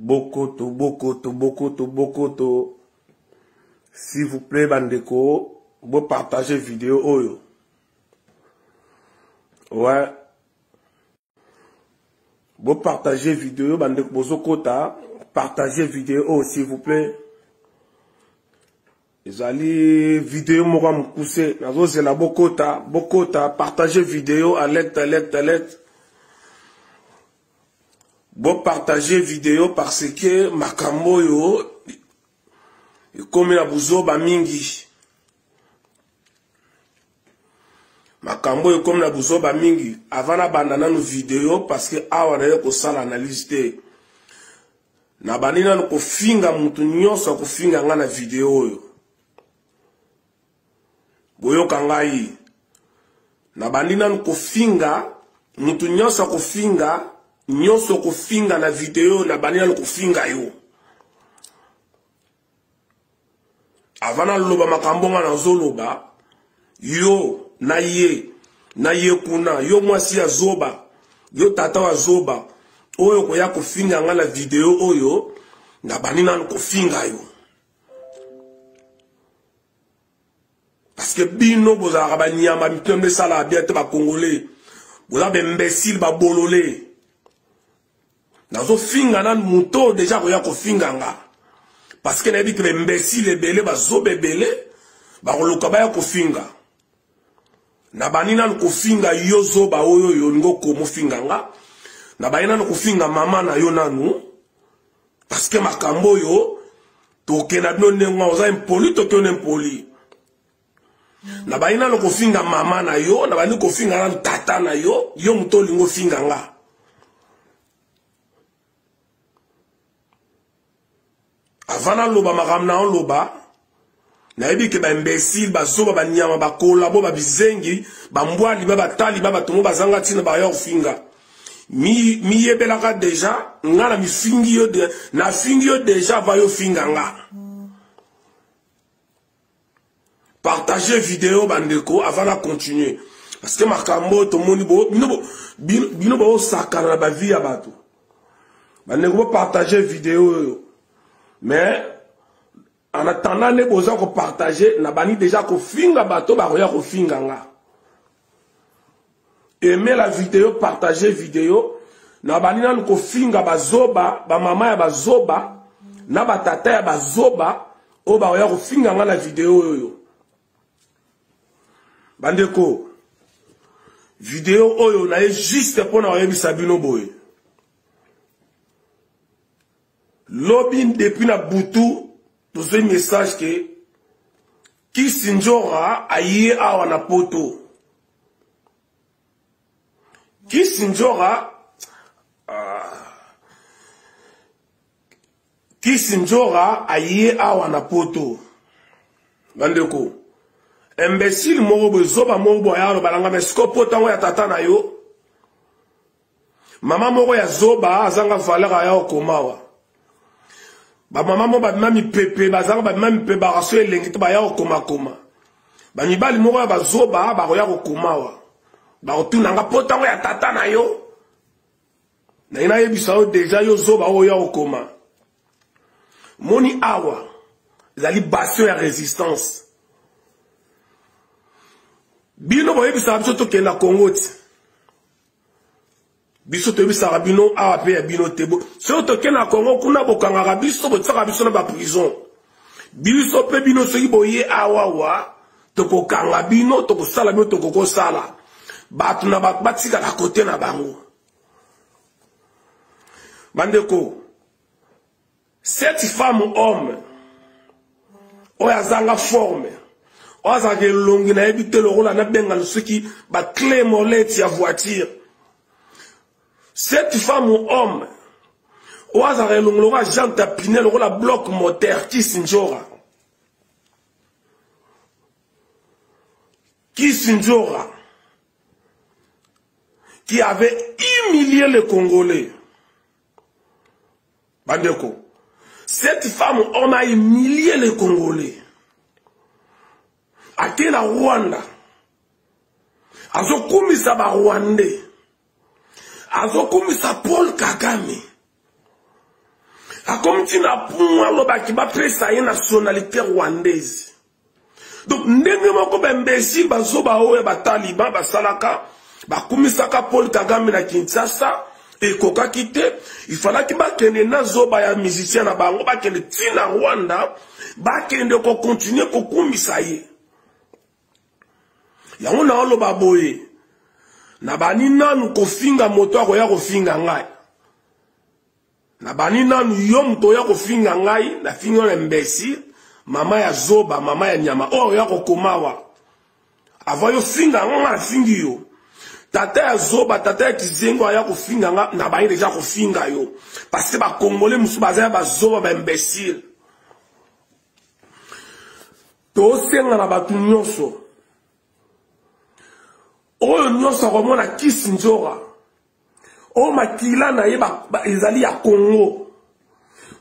bokoto bokoto bokoto bokoto s'il vous plaît bandeko bopartage video oyo ouais bopartage video bandeko bozokota partage video oyo oh, s'il vous plaît ezali video moko ya mokuse nazozela bokota bokota partage video alerte alerte alerte bopartage video parce que makambo oyo ekomi na buzoba mingi makambo oyo ekomi na buzoba mingi avant nabanda nanu video parce que awa naye kosala analyse te nabandi nanu kofinga motu nyonso akofinga ngai na video oyo boyoka ngai nabandi nanu kofinga motu nyonso akofinga nyonso okofinga na video nabandi nanu kofinga yo avant naloba makambo nga nazoloba yo na ye na ye kuna yo mwasi ya zoba yo tata wa zoba oyo koya kofinga nga na video oyo nabandi nanu kofinga yo parceke bino bozalaka banyama mitema nde esalaka bia te bakongole boza baimbesile babolole nazofinga nanu moto deja akoya kofinga nga parce que nayebi ke baimbecile ebele bazoba ebele bakoluka baya kofinga nabandi nanu kofinga yo zoba oyo oyo olingi okomofinga nga nabandi nanu kofinga mama na yo nanu parce que makambo oyo tokenda bino ndenge oza impoli tokiona impoli nabandi nano kofinga mama na yo nabandi kofinga nano tata na yo yo moto olingi ofinga nga avant naloba makambo na oloba nayebi ke baimbesile bazoba banyama bakolabo babizengi bambwali ba batali ba bato mo bazanga ntina baya kofinga miyebelaka mi deja nga na mifingi yo nafingi yo deja va yo finga nga mm. partager video bandeko avant na continuer parce que makambo oyo tomoni bino baosakana na bavi ya bato bandeko bopartage video oyo mais en attendant nde boza kopartage na bandi deja kofinga bato bakoya kofinga nga aime la video partage video na bandi nanu kofinga bazoba bamama ya bazoba na batata ya bazoba oyo bakoya kofinga ngai na video oyo bandeko video oyo naye juste mpo na koyebisa bino boye Lobi depuis na butu tozoi message ke kisi njora aye awa na poto kisi njora uh, kisi njora aye awa na poto bandeko imbecile moko boye zoba moko boye aloba na ngai me siko poto yango ya tata na yo mama moko ya zoba azanga valeur aya okomawa bamama moko babima mipepe bazanga babima mipepe bakaso elengi te baya kokomakoma bamibali moko ya bazoba bakoya kokomawa bakotuna nga po ntango ya tata na yo naye nayebisa yo deja yo zoba oyo oya kokoma moni awa ezali bastion ya résistance bino boyebisaka biso tokenda kongo ti biso toyebisaka bino awa mpe ya bino te soki toke na kongo kuna bokangaka biso botisaka biso na baprison biso mpe bino soki boye awawa tokokanga bino tokosala bino tokokosala bato na bato batikala kote na bango bandeko cette femme homme oyo azanga forme oyo azalaka elongi nayebi te lokola nabenga lusuki baclé molete ya voiture cette femme homme oyo azalaka elongi lokola jean tapine lokola bloc moteur kisindjora kisindjora qui avait humilié les congolais Bandeko, cette femme, on a humilié les Congolais. Ake na Rwanda. Azokumisa ba Rwandais. Azokumisa Paul Kagame. Akomti na pumwa lobaki ba pesa ye nationalité rwandaise. donc ndenge moko baimbecile bazoba oyo bataliban basalaka bakumisaka paul kagame na kinshasa ekokaki te ifalaki bakende na zoba ya musicien na bango bakende ti na rwanda bakende kokontinue kokumisa ye yango naoloba boye nabani nanu kofinga moto akoya kofinga ngai na bani nanu yo moto oya kofinga ngai na fingi yo na imbécile mama ya zoba mama ya nyama oyo oh, oya kokomawa avant yo finga yango ngai nafingi yo tata ya zoba tata ya kizengo aya kofinga nga na baye deja kofinga yo parce que bakongole mosusu baza ya bazoba baimbécile tosenga na bato nyonso oyo nyonso akomona kisi nzora oyo makila na ye ezali ya congo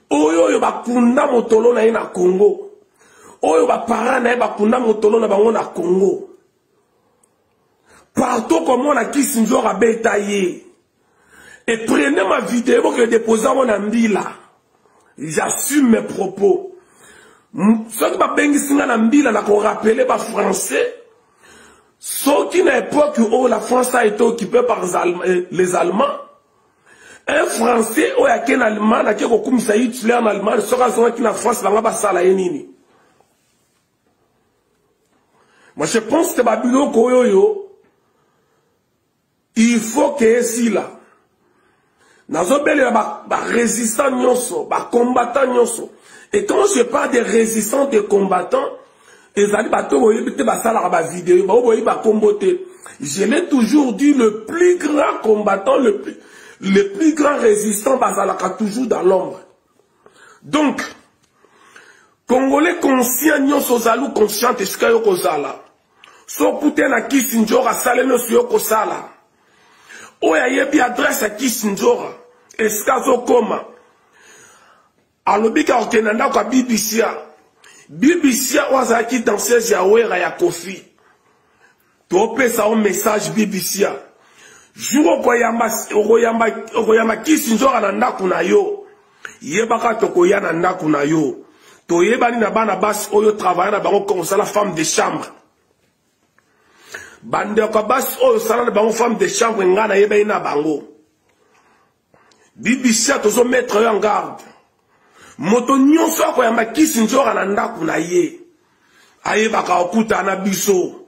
oyo oyo bakunda motolo na ye na congo oyo bapara na ye bakunda motolo na bango na congo partout komona kisi nzor abeta ye e prene ma video boke depose yango na mbila j'assume mes propos soki babengisi nga na mbila na korapele bafrançais soki na époque oyo la france a été occupé par euh, les allemands un français oyo ake na allemagne ake kokumisa hitler na allemagne soki azongaki na france banga basala ye nini moi je pense te babiloko oyo oyo il faut que esila nazobelela barésistant ba nyonso bacombattant nyonso et quand je parle de résistant de combattant ezali bato oyo boyebi te basalaka bavideo baoyo boyebi bakombo te je l'ai toujours dit le plus grand combattant le plus, le plus grand résistant bazalaka toujours dans l'ombre donc congolais conscient nyonso ozali conscient esika yo kozala sokute na kisi njora sale nyonso yo kosala oyo ayebi adrese ya kisi njora esika azokoma alobi ka kokende na ndako ya bibisia bibisia oyo azalaki danseuse ya wera ya kofi topesa o message bibisia jour okoyamba kisi njora na ndako na yo yebaka tokoya na ndako na yo toyebani na bana basi oyo travaille na bango comme osala femme de chambre bandeko ya basi oyo osala na bango femme de chambre ngai nayebani na bango bibisia tozo mettre yo en garde moto nyonso akoyamba kisi nzora na ndako na ye ayebaka okutana biso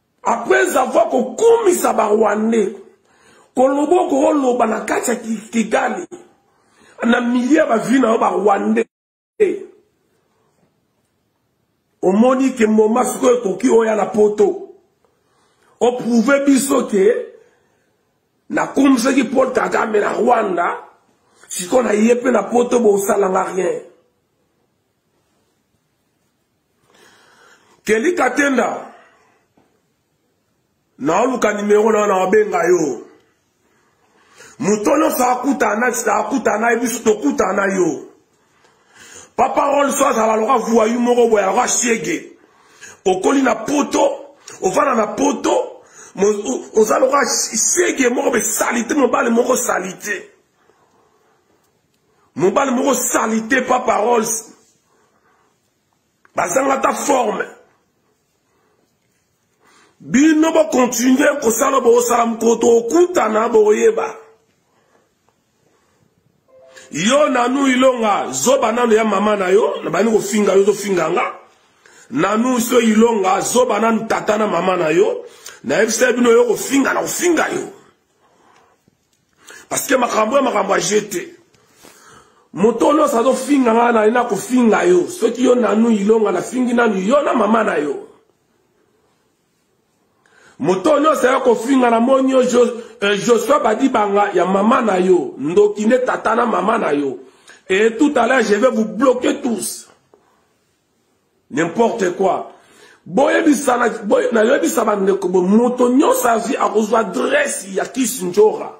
après avoir kokumisa barwandais koloba okoloba na kati ya kigali na milie ya bavi na yo barwandais omoni ke moma sikoyo ekoki oya na poto oprouve biso ke nakumisaki paul kagame na rwanda sikoyo na ye mpe na poto bosalanga rien Kelly Katenda naoluka nimero na naobenga yo moto nyonso akutana akutana ye biso tokutana yo papa role so azala loka vuayu moko boye aloka shege okoli na poto ofanda na poto oza loka shege moko be salite mobali moko salite mobali moko salite papa rols bazanga ata forme bino bokontinue kosala bosala mokolo tokutana boyeba yo nanu ilonga zoba nano ya mama na yo nabandi kofinga yo ozofinga nga nanu so ilonga zoba nanu tata na mama na yo nayebisa bino yo kofinga na kofinga yo parce que makambo ya makambo ya jeu te moto oyo nyonso azofinga ngai nali na kofinga yo soki yo nanu ilonga nafingi nanu yo na mama na yo moto nyonso ya kofinga na moni yo eh, josua badibanga ya mama na yo ndoki nde tata na mama na yo et tout à l'heure je vais vous bloquer tous n'importe quoi boyebisa nayebisa bandeko bo moto nyonso azwi akozwa adresse ya kisi njora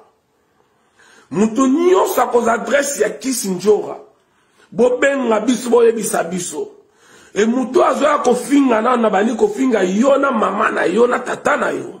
moto nyonso akozwa adresse ya kisi njora bobenga biso boyebisa biso e moto azoya kofinga nano nabandi kofinga yo na mama na yo na tata na yo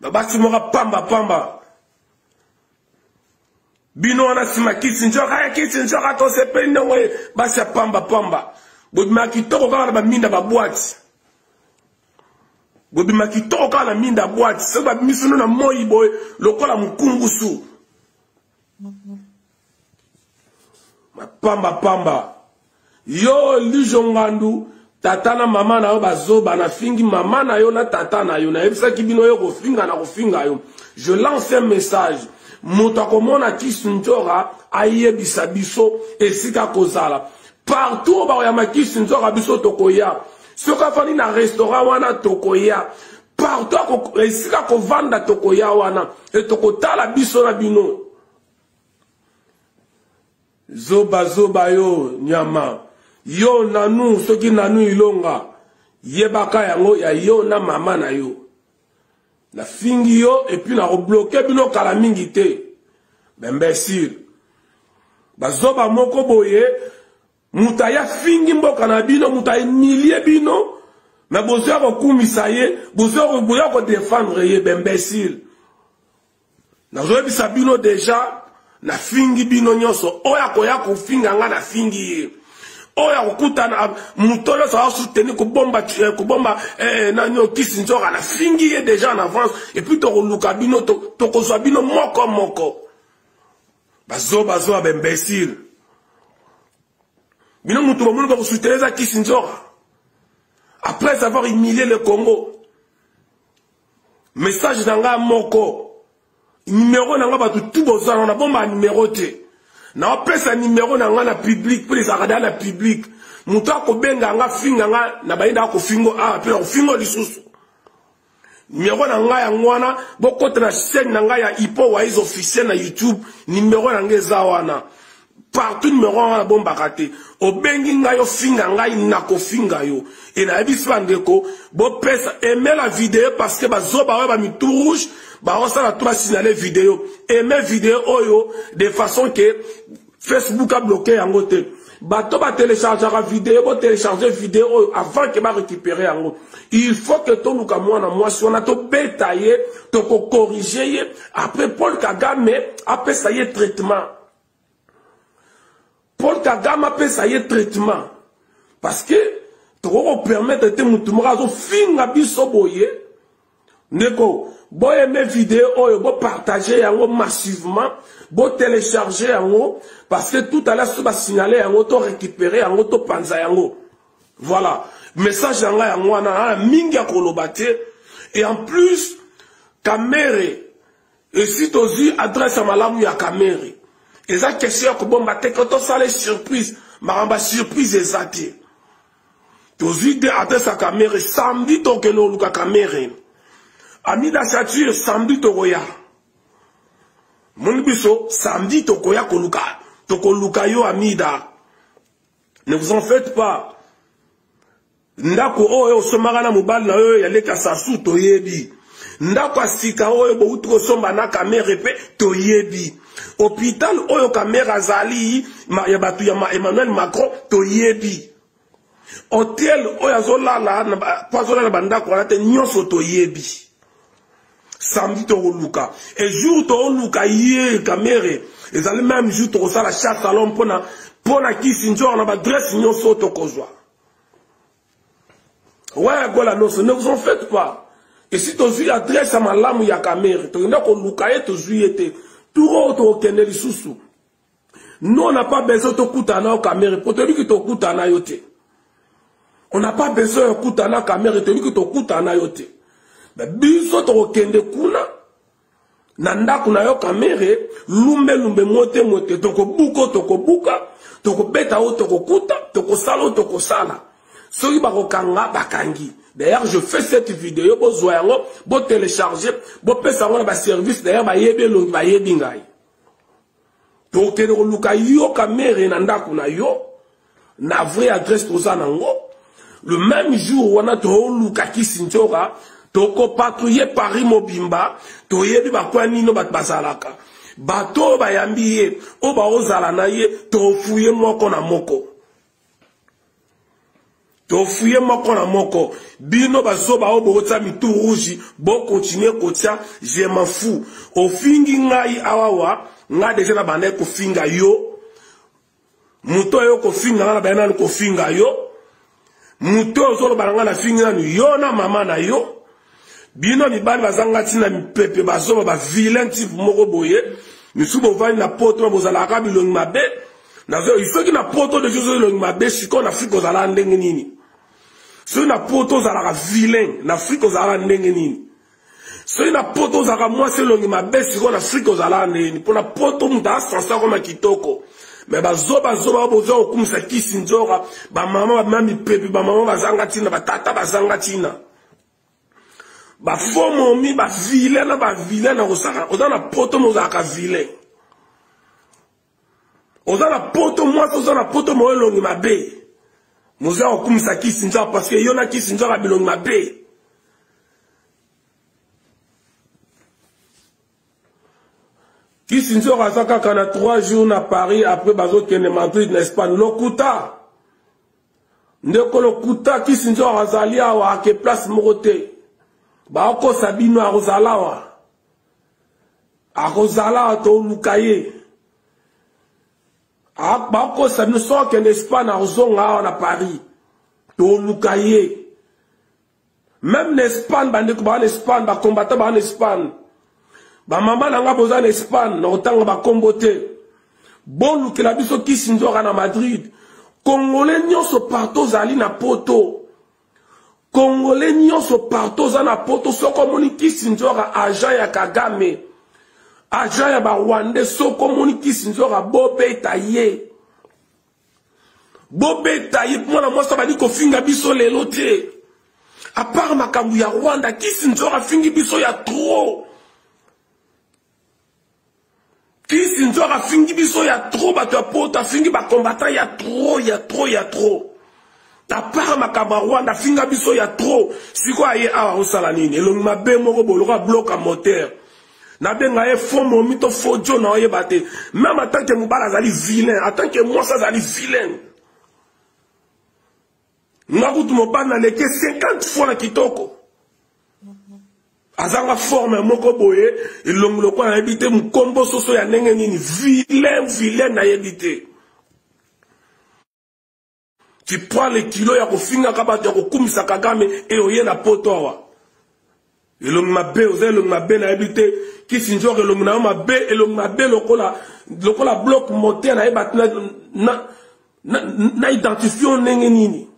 babasi moka pamba pamba bino wana nsima kisi nzoka ya kisi nzoka tosepeli ndongo ye basi ya pamba pamba bobima kitoko kaka na baminda babwati bobima kitoko kaka na minda bwati soki babimisi no na moi boye lokola mokungusu pamba pamba yo lijo ngandu tata na mama na yo bazoba nafingi mama na yo na tata na yo nayebisaki bino yo kofinga na kofinga yo je lance un message moto akomona kisinzora ayebisa biso esika kozala partout bakoya makisinzora biso tokoya soki afandi na restaurant wana tokoya partout esika kovanda tokoya wana e tokotala biso na bino zoba zoba yo nyama yo nanu soki nanu ilonga yebaka yango ya yo na mama na yo nafingi yo epuis nakobloke bino kala mingi te bembesire bazoba moko boye moto aye afingi mboka na bino moto aemilie bino me bozoya kokumisa ye bozoya kodefendre ye bembesile nazoyebisa bino deja nafingi bino nyonso oyo akoya kofinga ngai nafingi ye oyo akokutana moto nyonso asuteni kobomba eh, kobomba eh, eh, nanio kisi nzoka nafingi ye deja en avance epuis tokoluka bino tokozwa bino moko moko bazoba zoba ba imbecile bino moto bamoni bakosutela eza kisi nzora après avoir humilié le congo message na ngai moko nimero na ngai bato tu bozanga na bomba nimero te naopesa nimero na ngai na publike mpo ezalaka da na publike moto akobenga nga finga nga na bayenda akofingo awa mpe nakofingo lisusu numero na ngai yango wana bokota na chaîne na ngai ya ipo wais officiel na youtube numero na ngai eza wana partout numero wana nabombaka te obengi ngai ofinga ngai nakofinga yo e nayebisi bandeko bopesa emela video parce que bazoba oyo bamitu rouge baosala to basinale video eme video oyo de façon ke facebook abloke yango te bato batelechargeaka video botelecharge video oyo avant ke barécupere yango il faut ke toluka mwana mwasi wana tobeta ye tokokorige ye après paul kagame apesa ye traitement paul kagame apesa ye traitement parce que tokoki kopermettre te motu moko azofinga biso boye ndeko boyeme video oyo bopartage yango massivement botelecharge yango parce que tout à l'heure soki basignale yango to récupere yango topanza yango voilà message ya ngai yango wana aa mingi ya koloba te et en plus kamere esi tozwi adresse ya malamu ya kamere eza question ya kobomba te ko tosala surprise makambo ya surprise eza te tozwi te adresse ya kamere samedi tokende koluka kamere amida chature samedi tokoya moni biso samedi tokoya koluka tokoluka yo amida ne vous en faites pas ndako oyo osomaka na mobali na yo ya leta sasu toyebi ndako ya sika oyo bouti kosomba na kamere mpe toyebi hôpital oyo kamere azali ya bato ya emmanuel macron toyebi hotel oyo azolala mpo azolala bandako wana te nyonso toyebi samedi tokoluka e jour tokoluka ye kamere ezali meme jour tokosala chasse alon mpona mpona kisi nzor na badresse nyonso oyo tokozwa waya gola noso ne vous en faites pas esi tozwi adresse ya malamu ya kamere tokenda koluka ye tozwi ye te turo oyo tokokende lisusu no na pas besoin tokutana na yo kamere mpo toyebi ki tokutana na yo te on n'a pas besoin ya kutana kamere toyebi ki tokutana na yo te biso tokokende kuna na ndako na yo kamere lumbelumbe mote mote tokobuko tokobuka tokobeta oyo tokokuta tokosala oyo tokosala soki bakokanga bakangi d'ailleurs je fais cette video bozwa yango botelecharge bopesa yango na baservice d'ailleurs bayebi elongi bayebi ngai tokende koluka yo kamere na ndako na yo na vrai adresse toza nango le même jour wana toluka kisinjora tokopatrouille paris mobimba toyebi bakwa nino bato bazalaka bato oyo bayambi ye oyo baozala na ye tofuye moko na moko tofuye moko na moko bino bazoba oyo bokotya mitu rouge bokontinue kotya je m'en fou ofingi ngai awawa ngai deja na bandaki kofinga yo moto oyo kofinga ngai na bandaki nanu kofinga yo moto oyo ozoloba na ngai nafingi nanu yo na mama na yo bino mibali bazanga ntina mipepe bazoba ba vilain type moko boye misusu bovandi na poto bozalaka bilongi mabe soki na poto de jozo elongi mabe sikoyo na afrika ozalaka ndenge nini soki na poto ozalaka vilain na afrika ozalaka ndenge nini soki na poto ozalaka mwasi elongi mabe sikoyo na afrika ozalaka ndenge nini mpo na poto moto asansa koma kitoko me bazobazoba boza kokumisa kisi nzoka bamama bamami pepe bamama bazanga ntina batata bazanga ntina bafomomi bavile na bavile na kosaka oza na poto mozalaka vile oza na poto mwasi oza na poto moyo elongi mabe moza kokumisa kisi nzaka parce que yo na kisi nzaka bilongi mabe kisi nzoko aza kaka na 3 jours na paris après bazokende madrid na espagne lokuta ndeko lokuta kisi nzoko azali awa ake place moko te bakokosa bino akozala awa akozala awa toluka ye bakokosa bino sokende espagne akozonga awa na paris toluka ye meme na espagne bandeko baa na espagne bakombata baa na espagne bamama na nga boza na espagne na kotanga bakombo te bolukela biso kisi nzoka na madrid kongole nyonso partout ozali na poto kongole nyonso partout oza na poto soki omoni kisi nzoka agent ya kagame agent ya barwandais soki omoni kisi nzoka bobeta ye bobeta ye mwana mwasi abandi kofinga biso lelo te apart makambo ya rwanda kisi nzor afingi biso ya trop kisi nzor afingi biso ya trop bato ya poto afingi bacombatant ya trop ya trop ya trop apart makambo ya rwanda afinga biso ya trop sikoyo aye awa osala nini elongi mabe moko boloka bloka moteur nabenga ye fo momi to fo jo na oyeba te meme atant ke mobali azali vilain atant ke mwasi azali vilaine nga kutu mobali naleki 50 fois na kitoko azanga forme moko boye elongi lokola nayebi te mokombo soso ya ndenge nini vilain vilain nayebi te tu prends le kilo ya kofingaka bato ya kokumisa kagame e oye na poto awa elongi mabe oza elongi mabe nayebi te kisinjor elongi na yo mabe elongi mabe lokola lokola bloc mote nayeba te na, na, na, na identifio ndenge nini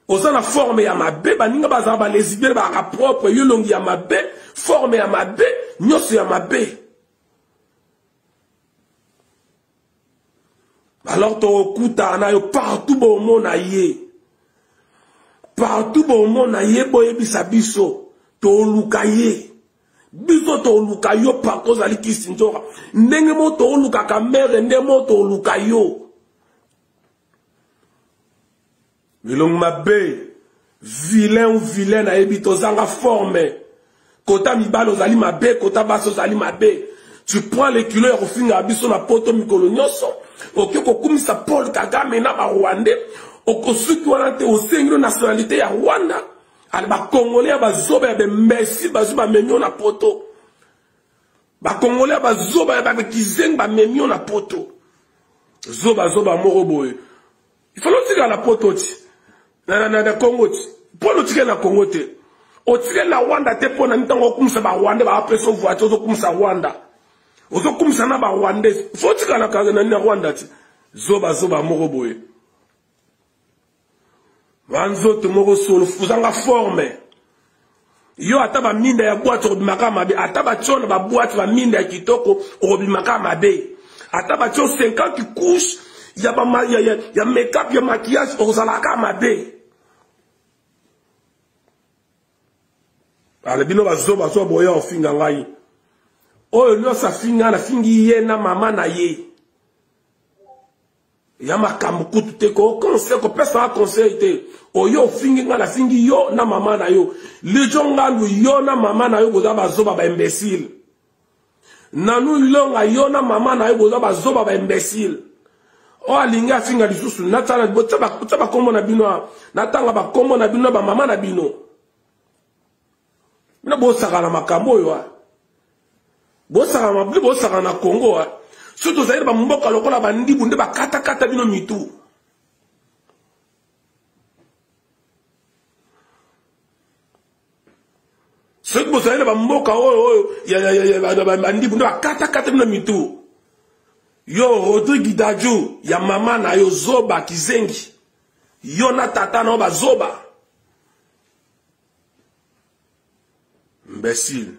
oza na forme ya mabe baninga bazala balesibele bazalaka propre yo elongi ya mabe forme ya mabe nyonso ya mabe alors tokokutana na yo partout bomona ye partout bomona ye boyebisa biso toluka ye biso toluka yo partout ozali kisinzoka ndenge mo toolukaka mere nde mo toluka yo Elongi mabe, vilain ou vilain nayebi tozanga forme. Kota mibale ozali mabe, kota basi ozali mabe. Tu prends le kilo ya kofinga biso na poto mikolo nyonso. Oke kokumisa Paul Kagame na ba Rwandais. Okosuki wana te osengi nationalité ya Rwanda. Al ba Congolais ya bazoba ya bembesi bazo bamemio na poto. Ba Congolais ya bazoba ya ba kizengi bamemio na poto. Zoba zoba moko boye. il faut lotika na poto ti na na na Congo ti po lotika na Congo te otika na Rwanda te po na ntango okumisa ba Rwanda ba apesa voiture ozokumisa Rwanda ozokumisa na ba Rwanda faut otika na kaza na Rwanda ti zoba zoba moko boye banzoto moko solo ozanga forme yo ata baminda ya bwate okobimaka mabe ata batio na babwate baminda ya kitoko okobimaka mabe ata batio 50 couche ya, ba, ya, ya, ya makeup ya maquillage okozalaka mabe ala bino bazoba so boya ofinga ngai oyo nyonso afinga nafingi ye na mama na ye ya makambo kutu te koconse kopesaka conseil te oyo ofingi ngai nafingi yo na mama na yo lijo ngandu yo na mama na yo boza bazoba baimbecile nanu longa yo na mama na yo boza bazoba baimbecile oyo alingi afinga lisusu natya bakombo na bino natanga bakombo na bino na bamama na bino bino bosaka na makambo oyo ah. bosaka mabli bosaka na congo ah. soki tozali na bamboka lokola bandibu nde bakatakata bino mitu soki bozali na bamboka oyo oyo bandibu nde bakatakata bino mitu yo rodrigue daju ya mama na yo zoba kizengi yo na tata na yo bazoba imbécile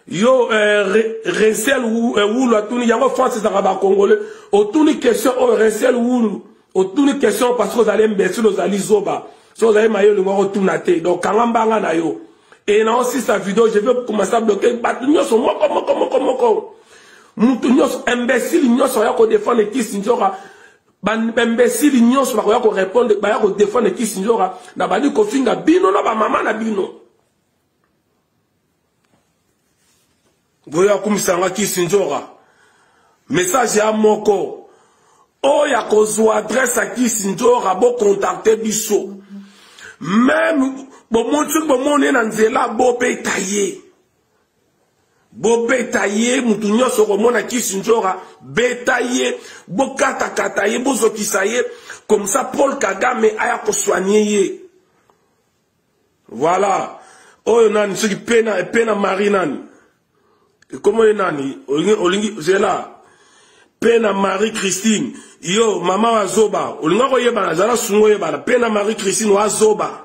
yo euh, re, resel wulu euh, atuni yango france ezalaka bacongolais otuni question oyo oh, resel wulu otuni question parce que ozali imbécile ozali zoba so ozali maye olingi okotuna te donc kanga mbanga na yo e na osisa video je vais commencer à bloquer bato nyonso moko moko moko moko moto nyonso imbécile nyonso aya kodefendre kisi nzoka bambesili nyonso bakoya korepondre baya kodefendre kisinjora na bandi kofinga bino na bamama na bino boya kumisanga kisinjora message ya moko oyo akozwa adresse ya kisinjora bokontakte biso meme bomoni soki bomoni ye na nzela bobeta ye bobeta ye motu nyonso okomona kisi njora beta ye bokatakata ye bozokisa ye komsa paul kagame aya koswanie ye voilà oyo nani soki pena pena marie nani ekombo ye nani olingi zela pena marie christine yo mama wa zoba olinga koyebana zala sungo oyebana pena marie christine wa zoba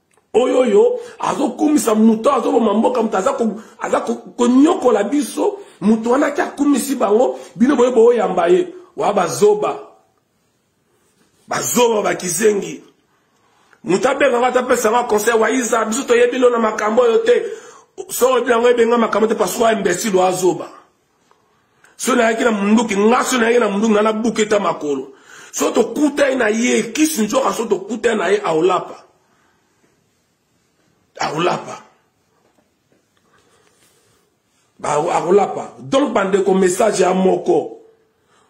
oyo oyo azokumisa moto azoboma mboka moto aza konyokola biso moto wana ake akumisi bango bino boye boyamba ye wa bazoba bazoba bakizengi moto abenga ngo atapesa ngo conseil waiza biso toyebi no na makambo oyo te soko oyebi yango ebenga makambo te pasuka imbesile oazoba so nayaki na munduki nga so nayaki na munduki nga nabuka eta makolo so tokutani na ye kisi nzoka so tokutani na ye aolapa aolapa akolapa donc bandeko message ya moko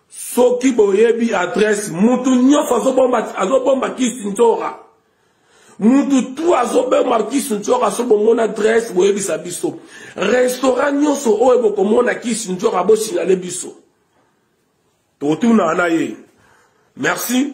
soki boyebi adresse mutu nyonso azobomba azobomba kisinzora mutu tu azobomba kisinzora so bomona adresse boyebisa biso restaurant nyonso oyo bokomona kisinzora bosignale biso totunana ye merci